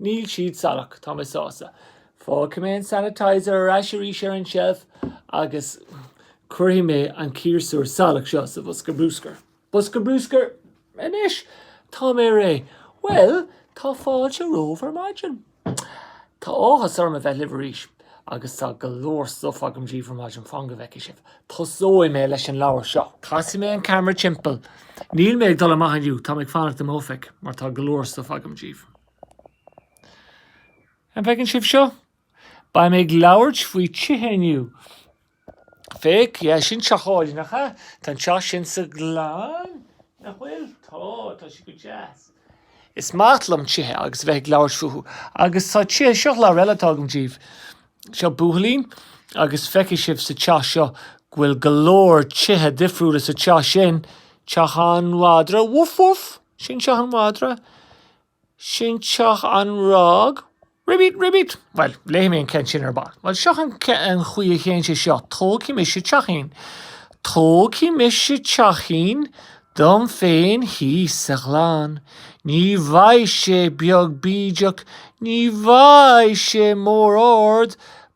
Níl siad salach, tá mé sásta. Fágfaidh mé an sanitizer ar ais arís ar an tseilf agus cuirfidh mé an ciarsúr salach seo sa bhosca bruscair. Bosca bruscair. Anois, Tá mé réidh. Bhuel, tá fáilte romhaibh ar maidin. Tá áthas orm a bheith libh arís. Agus tá go leor stuif agam díbh ar maidin, fan go bhfeicfidh sibh. Tosóidh mé leis an leabhar seo. Casfaidh mé an ceamara timpeall. Níl mé ag dul amach inniu, tá mé ag fanacht i m'oifig mar tá go leor stuif agam díbh. An bhfeiceann sibh seo? Beidh mé ag labhairt faoi tithe inniu. Féach, yeah, sin teach álainn, nach ea? Tá an teach sin sa Ghleann, nach bhfuil? Tá, tá sé go deas. Is maith liom tithe agus a bheith ag labhairt fúthu. Agus tá tithe, seo leabhar eile atá agam díbh. Seo buachaillín agus feicfidh sibh sa teach seo go bhfuil go leor tithe difriúla sa teach sin, teach an mhadra, woof woof! Sin teach an mhadra, sin teach an fhroig. Ribbit, ribbit! Bhuel, léifidh mé an ceann sin ar ball. Bhuel, seo an chaoi a théann sé seo, tógfaidh mise teachín. Tógfaidh mise teachín dom féin thíos sa ghleann. Ní bheidh sé beag bídeach, ní bheidh sé mór ard,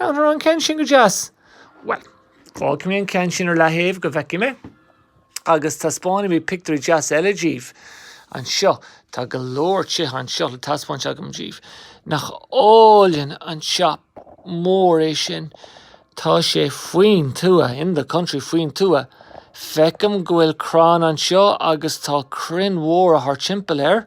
An raibh an ceann sin go deas? Bhuel, fágfaidh mé an ceann sin ar leathaobh go bhfeicfidh mé, agus taispeánfaidh mé pictiúirí deasa eile díbh anseo. Tá go leor tithe anseo le taispeáint agam díbh. Nach álainn an teach mór é sin? Tá sé faoin tuath, in the country, faoin tuath. Feicim go bhfuil crann anseo agus tá crainn mhóra thart timpeall air.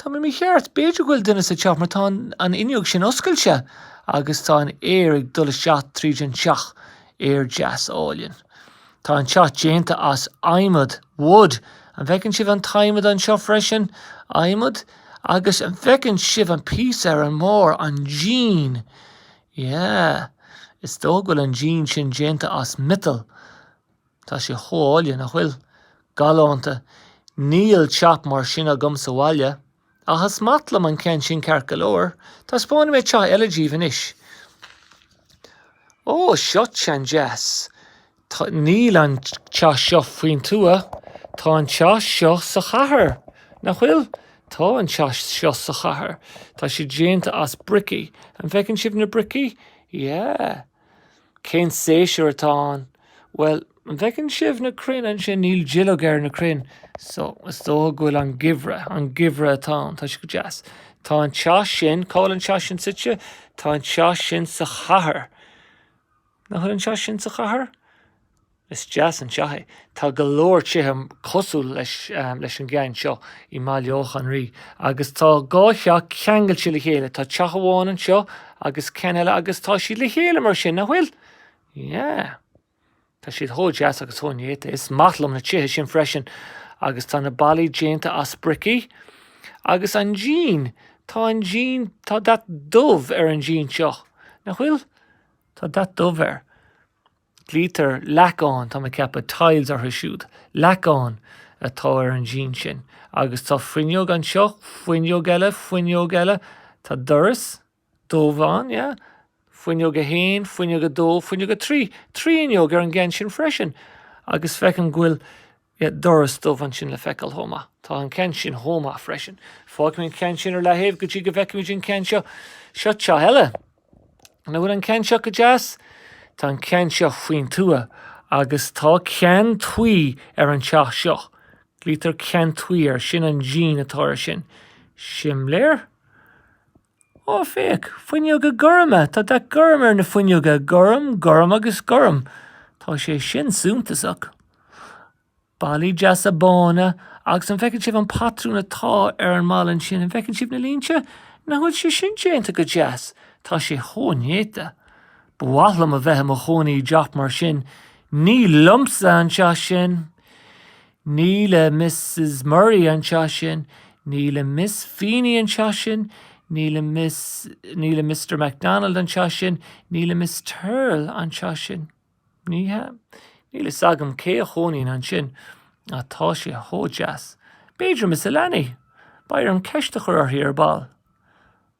Tá mé mícheart. B'fhéidir go bhfuil duine sa teach mar tá an fhuinneog sin oscailte agus tá an aer ag dul isteach tríd an teach. Aer deas álainn. Tá an teach déanta as adhmad, wood. An bhfeiceann sibh an t-adhmad anseo freisin? Adhmad. Agus an bhfeiceann sibh an píosa ar an mbarr, an díon? Yeah. Is dóigh go bhfuil an díon sin déanta as miotal. Tá sé go hálainn, nach bhfuil? Galánta. Níl teach mar sin agam sa bhaile. Ach is maith liom an ceann sin ceart go leor. Taispeánfaidh mé teach eile díbh anois. Ó, seo ceann deas. Níl an teach seo faoin tuath. Tá an teach seo sa chathair, nach bhfuil? Tá an teach seo sa chathair. Tá sé déanta as bricí. An bhfeiceann sibh na bricí? Yeah. Cén séasúr atá ann? Bhuel, an bhfeiceann sibh na crainn ansin? Níl duilleog ar na crainn so is dóigh go bhfuil an geimhreadh, an geimhreadh atá ann. Tá sé go deas. Tá an teach sin, cá bhfuil an teach sin suite? Tá an teach sin sa chathair. Nach bhfuil an teach sin sa chathair? Is deas an teach é. Tá go leor tithe cosúil leis an gceann seo i mBaile Átha an Rí agus tá dhá theach ceangailte le chéile. Tá teach amháin anseo agus ceann eile agus tá siad le chéile mar sin, nach bhfuil? Yeah. Tá siad chomh deas agus chomh néata. Is maith liom na tithe sin freisin agus tá na ballaí déanta as bricí agus an díon, tá an díon, tá dath dubh ar an díon seo, nach bhfuil? Tá dath dubh air. Glaoitear leacáin, tá mé ag ceapadh, tiles orthu siúd. Leacáin atá ar an díon sin. Agus tá fuinneog anseo, fuinneog eile, fuinneog eile. Tá doras dubh ann, yeah. Fuinneog a haon, fuinneog a dó, fuinneog a trí. Trí fhuinneog ar an gceann sin freisin. Agus feicim go bhfuil Yeah, doras dubh ansin le feiceáil chomh maith. Tá an ceann sin chomh maith freisin. Fágfaimid an ceann sin ar leathaobh go dtí go bhfeicfimid an ceann seo. Seo teach eile. An bhfuil an ceann seo go deas? Tá an ceann seo faoin tuath agus tá ceann tuí ar an teach seo. Glaoitear ceann tuí air, sin an díon atá air sin. Simléir? Ó, féach! Fuinneoga gorma! Tá dath gorm ar na fuinneoga! Gorm, gorm agus gorm! Tá sé sin suntasach. Ballaí deasa bána, agus an bhfeiceann sibh an patrún atá ar an mballa ansin? An bhfeiceann sibh na línte? Nach bhfuil sé sin déanta go deas? Tá sé chomh néata. Ba mhaith liom a bheith i mo chónaí i dteach mar sin. Ní liomsa an teach sin! Ní le Misses Murray an teach sin, ní le Miss Feeney an teach sin, ní le Miss, ní le Mister McDonald an teach sin, ní le Miss Turl an teach sin. Ní hea. Níl fhios agam cé a chónaíonn ansin, ach tá sé chomh deas. B'fhéidir Miss Alaney? Beidh orm ceist a chur uirthi ar ball.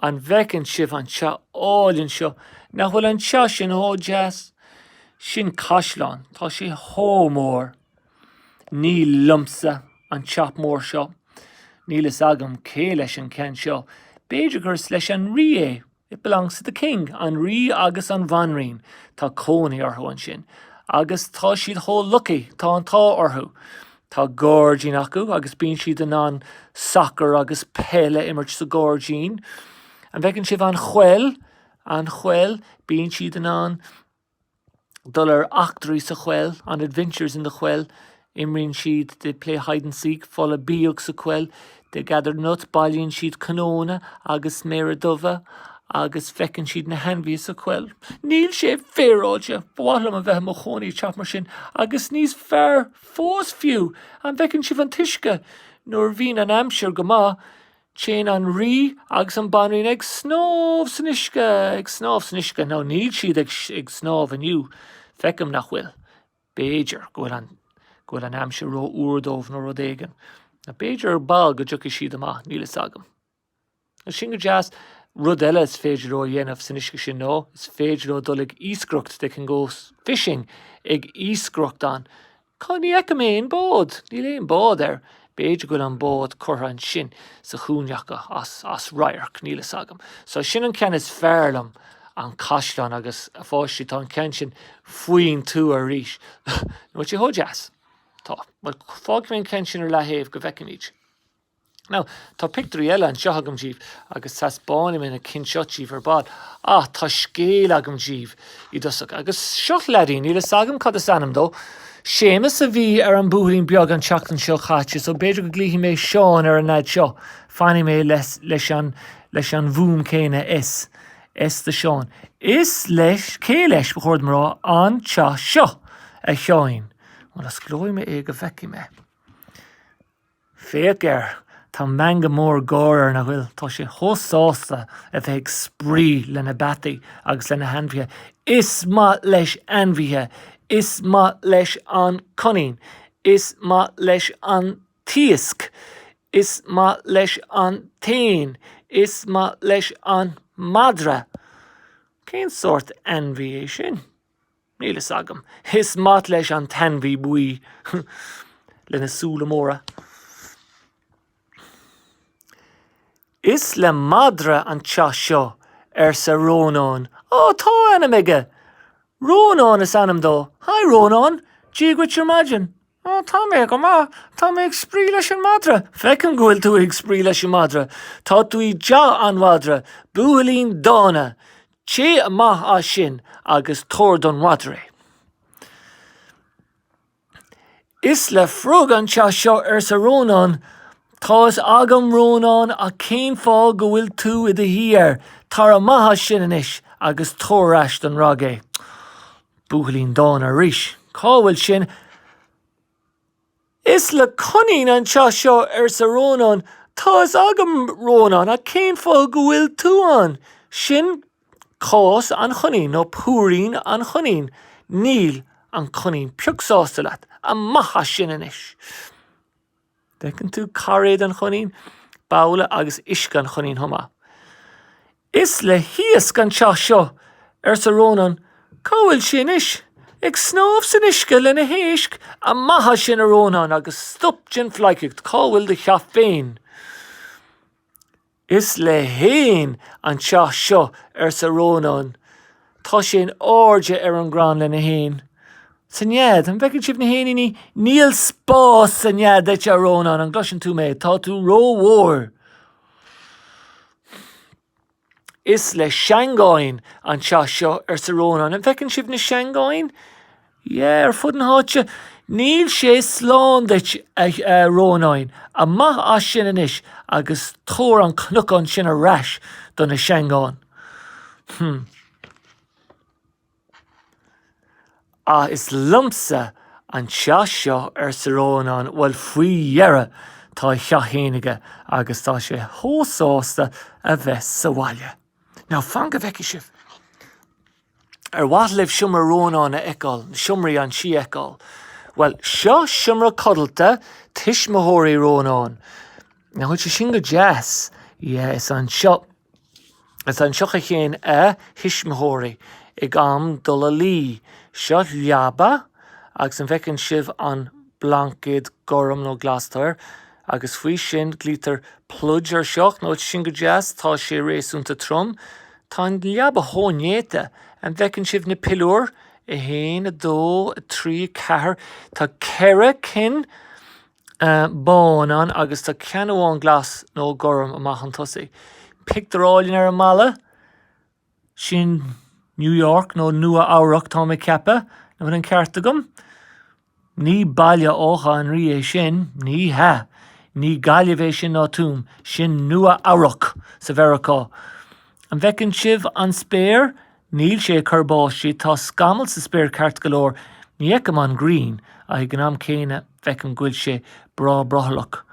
An bhfeiceann sibh an teach álainn seo? Nach bhfuil an teach sin chomh deas? Sin caisleán. Tá sé chomh mór. Ní liomsa an teach mór seo. Níl fhios agam cé leis an ceann seo. B'fhéidir gur is leis an rí é, It belongs to the king. An rí agus an bhanríon, tá cónaí orthu ansin. Agus tá siad chomh lucky, tá an t-ádh orthu. Tá gairdín acu agus bíonn siad in ann sacar agus peil a imirt sa ngairdín. An bhfeiceann sibh an choill? An choill? Bíonn siad in ann dul ar eachtraí sa choill, on adventures in the choill. Imríonn siad, they play hide and seek, folach bíog sa choill. They gather nuts, bailíonn siad cnónna agus sméara dubha agus feiceann siad na hainmhithe sa choill. Níl sé féaráilte! Ba mhaith liom a bheith i mo chónaí i teach mar sin agus níos fearr! Fós fiú, an bhfeiceann sibh an t-uisce? Nuair a bhíonn an aimsir go maith, téann an Rí agus an bhanríon ag snámh san uisce, ag snámh san uisce. Now níl siad ag snámh inniu, feicim nach bhfuil. B'fhéidir go bhfuil an aimsir ró-fhuar dóibh nó rud éigin. B'fhéidir ar ball go dtiocfaidh siad amach, níl fhios agam. Agus sin go deas. Rud eile is féidir leo a dhéanamh san uisce sin ná, is féidir leo dul ag iascaireacht, they can go fishing, ag iascaireacht ann. Cá, ní fheicim aon bád, níl aon bád ar, b'fhéidir go bhfuil an bád curtha ansin sa chúinne acu as, as radharc, níl fhios agam. So sin an ceann is fearr liom, an caisleán agus, a pháistí, tá an ceann sin faoin tuath arís, nó sé chomh deas. Tá. Fágfaidh mé an ceann sin ar leataobh go bhfeicfimid. Now, tá pictiúirí eile anseo agam daoibh agus taispeáinfidh mé na cinn seo daoibh ar ball. Ah, tá scéal agam daoibh i dtosach. Agus seo leaidín, níl fhios agam cad is ainm dó. Séamus a bhí ar an buachaillín beag an tseachtain seo chaite, so b'fhéidir go nglaofaidh mé Seán ar an leaid seo. Fanfaidh mé le, leis an, leis an bhfuaim céanna S. S do Seán. Is leis, cé leis, ba chóir dom a rá, an teach seo, a Sheáin. Bhuel, osclóidh mé é go bhfeicfidh mé. Féach air, tá meangadh mór gáire ar a aghaidh, tá sé chomh sásta a bheith ag spraoi lena pheataí agus lena ainmhithe. Is maith leis ainmhithe, is maith leis an coinín, is maith leis an t-iasc, is maith leis an t-éan, is maith leis an madra. Cén sórt ainmhí é sin? Níl fhios agam. Is maith leis an t-ainmhí buí lena súile móra. Is le madra an teach seo, arsa Rónán. Ó, tá ainm aige! Rónán is ainm dó. Hi Rónán! Dia dhuit ar maidin. Ó, tá mé go maith. Tá mé ag spraoi leis an madra. Feicim go bhfuil tú ag spraoi leis an madra. Tá tú i dteach an mhadra. Buachaillín dána. Téigh amach as sin agus tabhair don mhadra é. Is le frog an teach seo, arsa Rónán. Tá fhios agam, Rónán, ach cén fáth go bhfuil tú i do shuí air? Tar amach as sin anois agus tabhair ar ais don fhrog é. Buachaillín dána arís. Cá bhfuil sin? Is le coinín an teach seo, arsa Rónán. Tá fhios agam, Rónán, ach cén fáth go bhfuil tú ann? Sin cás an choinín, nó púirín an choinín. Níl an coinín pioc sásta leat. Amach as sin anois! An bhfeiceann tú cairéad an choinín, babhla agus uisce an choinín chomh maith. Is le hiasc an teach seo, arsa Rónán. Cá bhfuil sí anois? Ag snámh san uisce lena héisc? Amach sin, a Rónáin, agus stop den phleidhcaíocht. Cá bhfuil do theach féin? Is le héin an teach seo, arsa Rónán. Tá sé in airde ar an gcrann lena héin. Sa nead, an bhfeiceann sibh na héiníní? Níl spás sa nead duit, a Rónáin, an gcloiseann tú mé? Tá tú rómhór. Is le seangáin an teach seo, arsa Rónán. An bhfeiceann sibh na seangáin? Yeah, ar fud na háite. Níl sé slán duit, a Rónáin. Amach as sin anois agus tabhair an cnocán sin ar ais do na seangáin. Hmm. Ach is liomsa an teach seo, arsa Rónán. Bhuel, faoi dheireadh tá a theach féin aige agus tá sé chomh sásta a bheith sa bhaile. Now, fan go bhfeicfidh sibh. Ar mhaith libh seomra Rónáin a fheiceáil, seomraí an tí a fheiceáil? Bhuel, seo seomra codlata tuismitheoirí Rónáin. An bhfuil sé sin go deas? Yeah, is anseo Is anseo a théann a thuismitheoirí ag am dul a luí. Seo leaba agus an bhfeiceann sibh an blaincéad gorm nó glas atá air? Agus faoi sin glaoitear pluid ar seo, nach bhfuil sé sin go deas, tá sé réasúnta trom. Tá an leaba chomh néata. An bhfeiceann sibh na piliúir? A haon, a dó, a trí, a ceathair. Tá ceithre cinn. bán ann agus tá ceann amháin glas nó gorm amach chun tosaigh. Pictiúr álainn ar an mballa. Sin New York nó Nua Eabhrac táim ag ceapadh, an bhfuil an ceart agam? Ní Baile Átha an Rí é sin, ní hea. Ní Gaillimh é sin ná Tuaim. Sin Nua Eabhrac i Meiriceá. An bhfeiceann sibh an spéir? Níl sé ag cur báistí. Tá scamall sa spéir ceart go leor. Ní fheicim an ghrian, ach ag an am céanna, feicim go bhfuil sé breá brothallach.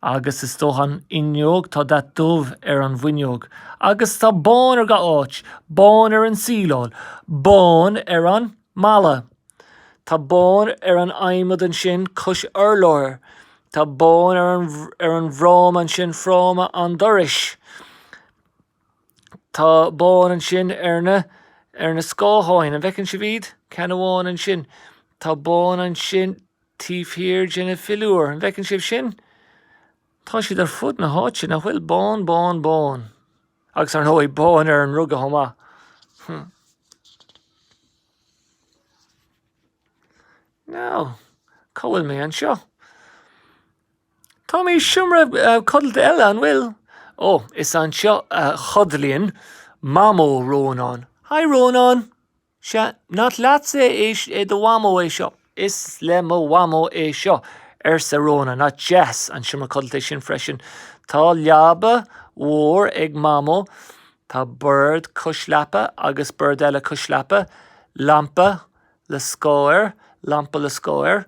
Agus istigh an fhuinneog, tá dath dubh ar an bhfuinneog. Agus tá bán ar gach áit. Bán ar an tsíleáil. Bán ar an mballa. Tá bán ar an adhmad ansin cois urláir. Tá bán ar an, ar an bhfráma ansin, fráma an dorais. Tá bán ansin ar na, ar na scátháin. An bhfeiceann sibh iad? Ceann amháin ansin. Tá bán ansin taobh thiar de na piliúir. An bhfeiceann sibh sin? Tá siad ar fud na háite, nach bhfuil? Bán, bán, bán. Agus ar ndóigh, bán ar an ruga chomh maith. Now, cá bhfuil mé anseo? Tá mé i seomra codlata eile, an bhfuil? Ó, is anseo a chodlaíonn Mamó Rónán. Hi Rónán! Sea, nach leatsa, é do Mhamó é seo? Is í mo Mhamó é seo, arsa Rónán. Nach deas an seomra codlata é sin freisin. Tá leaba mhór ag Mamó, tá bord cois leapa agus bord eile cois leapa, lampa le scáth air, lampa le scáth air.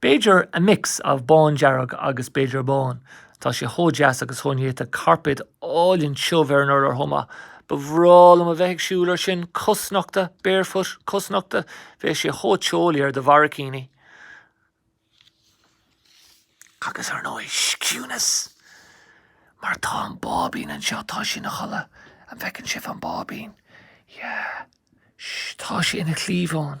B'fhéidir a mix of bándearg agus b'fhéidir bán. Tá sé chomh deas agus chomh néata carpéad álainn tiubh ar an urlár chomh maith. Ba bhreá liom a bheith ag siúl air sin cosnochta, barefoot, cosnochta. Bheadh sé chomh teolaí ar do bharraicíní. Agus ar ndóigh, ciúnas! Mar tá an báibín anseo, tá sé ina chodladh. An bhfeiceann sibh an báibín? Yeah. Shh, tá sé ina chliabhán.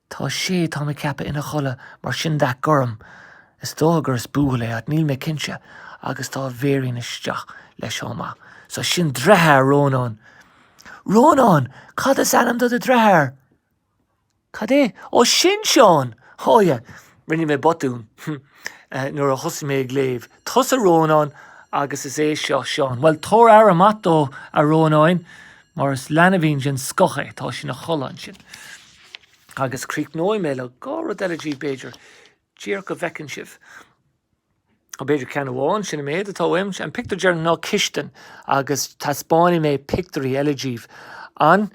Tá sé, tá mé ag ceapadh, ina chodladh, mar sin dath gorm. Is dócha gur is buachaill é, ach níl mé cinnte, agus tá a bhéirín isteach leis chomh maith. So sin deartháir Rónán. Rónán! Cad is ainm do do dheartháir? Cad é? Ó, sin Seán! Ó yeah, rinne mé botún nuair a thosaigh mé ag léamh. Tusa Rónán agus is é seo Seán. Bhuel, tabhair aire mhaith dó, a Rónáin, mar is leanbhín den scoth é. Tá sé ina chodladh ansin. Agus críochnóidh mé le dhá rud eile daoibh, b'fhéidir. Díreach go bhfeiceann sibh, nó b'fhéidir ceann amháin, sin an méad atá uaim. An pictiúr deireanach ná cistin, agus taispeánfaidh mé pictiúirí eile daoibh an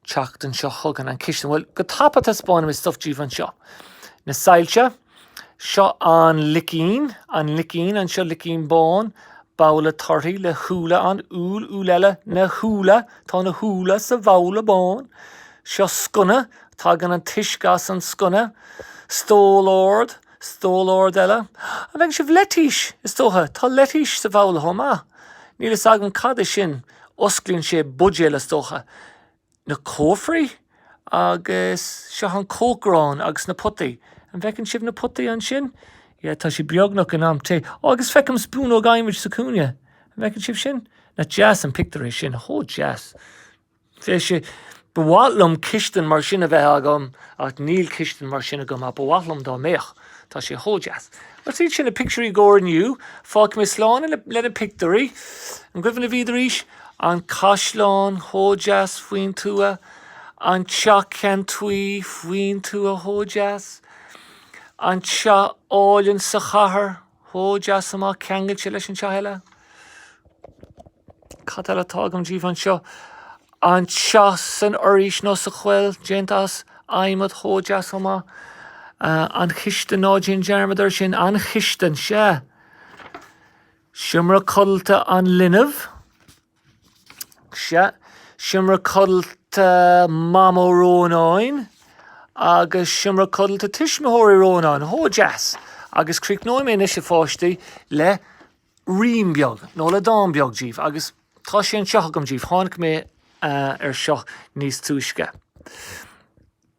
tseachtain seo chugainn. An cistin, bhuel, go tapa taispeánfaidh mé stuff daoibh anseo. Na soilse. Seo an leicín, an leicín, anseo leicín bán, babhla torthaí le húlla ann, úll, úll eile, na húlla, tá na húlla sa bhabhla bán. Seo sconna, tagann an t-uisce as an sconna. Stól ard, stól ard eile. An bhfeiceann sibh leitís? Is dócha, tá leitís sa bhabhla chomh maith. Níl a fhios agam cad é sin, osclaíonn sé buidéal, is dócha. na cófraí agus seo an cócaireán agus na potaí. An bhfeiceann sibh na potaí ansin? Yeah, tá sé beagnach in am tae. Oh, agus feicim spúnóg adhmaid sa chúinne. An bhfeiceann sibh sin? Nach deas an pictiúr é sin? Chomh deas. Bheadh sé, ba mhaith liom cistin mar sin a bheith agam ach níl cistin mar sin agam ach ba mhaith liom dá mbeadh. Tá sé chomh deas. But is iad sin na pictiúirí i gcomhair inniu. Fágfaidh mé slán leis na pictiúirí. An cuimhin libh iad arís? An caisleán chomh deas faoin tuath. An teach ceann tuí faoin tuath chomh deas. An teach álainn sa chathair. chomh deas chomh maith, ceangailte leis an teach eile. Cad eile atá agam díbh anseo? An teach san fhoraois nó sa choill, déanta as adhmad, chomh deas chomh maith. An chistin, ná déan dearmad air sin, an chistin, sea. Seomra codlata an linbh, Sea, seomra codlata Mhamó Rónáin agus seomra codlata tuismitheoirí Rónáin, chomh deas! Agus críochnóidh mé anois, a pháistí, le rím beag, nó le dán beag díbh, agus tá sé anseo agam díbh, tháinig mé air seo níos túisce.